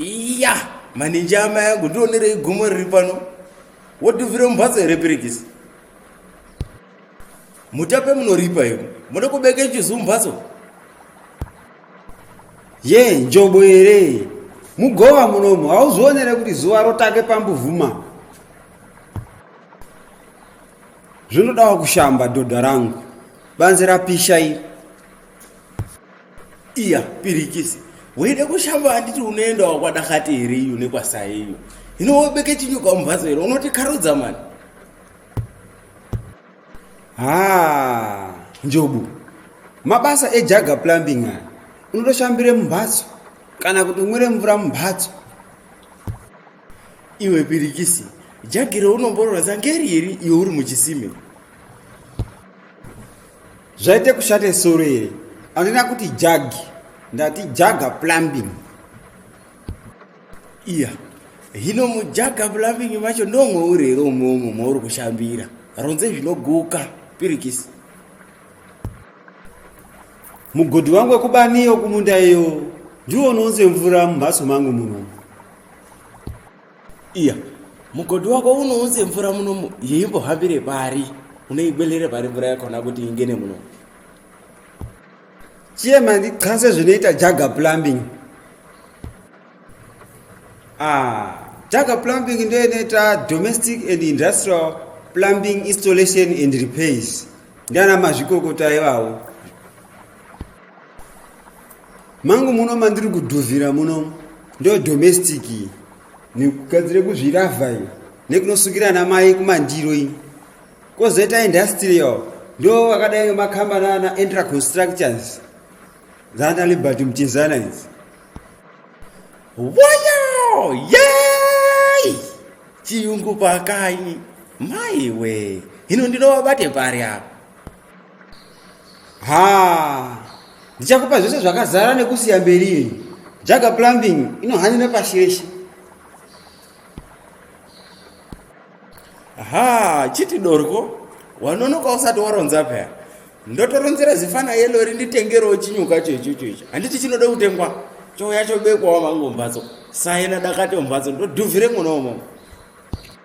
iya maninji amai angu ndionerei gomo riri pano wodhuvhira mumhatso here pirigisi mutape munoripa iko muda kubeka chizu mumhatso ye njobo here mugova munomu hauzvionere kuti zuva rotake pambuvuma zvinodawa kushamba dhodha rangu banzi rapisha iri iya pirikisi weida kushamba anditi unoendawo kwadakati here iyo nekwasai iyo hino wobeke chinyuka mumhatso here unoti karudza mani ha njobu mabasa ejaga plumbing aya unotoshambire mumhatso kana kuti umwire mvura mumhatso iwe pirikisi jagiro unomborora zangeri iri iwe uri muchisime zvaite kushate soro here andina kuti jagi ndati jaga plumbing iya hino mujaga plumbing macho ndomwe uri here umomo mauri kushambira ronze zvinoguka pirikisi mugodhi wangu wekubaniyo kumunda iyo ndiwo unonze mvura mumhatso mangu munomo iya mugodhi wako unounze mvura munomu yeimbohambire pari unoibelere pari mvura yakona kuti ingene muno chiye mandi qase zvinoita jaga plumbing ah, jaga plumbing ndo inoita domestic and industrial plumbing installation and repairs ndiana mazvikokota ivawo mangu muno mandiri kudhuvhira muno ndo domestic nekugadzira kuzviravha iyo nekunosukira namai kumandiro iyi kozoita industrial ndo akadai ngemakambani ana entra constructions dzana liberty muchizana idzi woyo yei chiyungu pakai maiwe hino ndinovabate pari apa haa ndichakupa zvese zvakazara nekusiya mberi iyi jaga plumbing inohanya nepashi reshe haa chiti dorwo wanonoka usati waronza paya ndotoronzera zifana yelo rinditengerewo chinyuka choichocho icho handiti chinoda kutengwa chouya chobekwawo mangu mumhatso saina dakati mumhatso ndodhuvhire mwona umomo